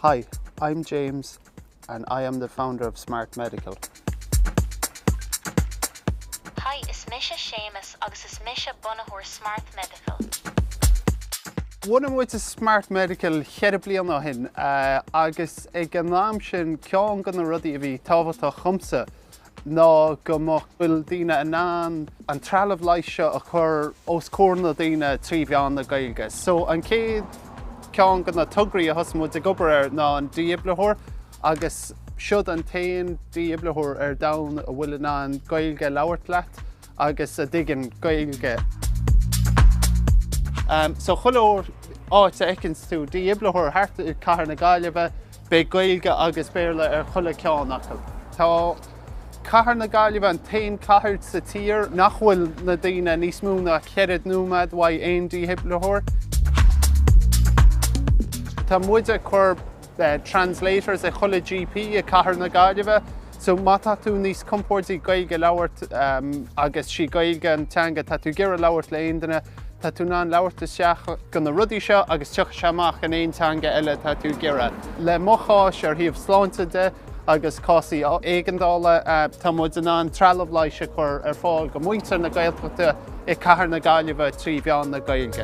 Hi, I'm James and I am the founder of Smart Medical. Hi, is mise Séamus agus is mise bunaitheoir Smart Medical. Bhunaigh muid Smart Medical cheithre bliana ó shin agus ag an am sin ceann de na rudaí a bhí tábhachtach dhomsa ná go mbeadh, bhfuil daoine in ann an trealamh leighis seo a chur os comhair na ndaoine trí mheán na Gaeilge. So an chéad cheann de na tograí a thosaigh muid ag obair air ná an dífhibritheoir agus siod an t-aon dífhibritheoir ar domhan a bhfuil in ann Gaeilge a labhairt leat. agus a dtuigeann Gaeilge. So chuile áit a fheiceanns tú dífhibritheoir thart i cathair na Gaillimhe, beidh Gaeilge agus Béarla ar chuile cheann acu. Tá cathair na Gaillimhe an t-aon chathair sa tír nach bhfuil na daoine níos mó ná cheithre nóimeád uaidh aon dífhibritheoir. Tá muid ag cur translators ag chuile GP i cathair na Gaillimhe. So má tá tú níos compóirdí Gaeilge a labhairt, agus sí Gaeilge an teanga atá tú ag iarraidh labhairt le aon duine, tá tú in ann labhairt isteach go na rudaí seo agus tiocfaidh sé amach in aon teanga eile atá tú ag iarraidh. Le mo chás ar thaobh sláinte de agus cásaí éigeandála, tá muid in ann trealamh leighis a chur ar fáil go muintir na Gaeltachta i cathair na Gaillimhe trí mheán na Gaeilge.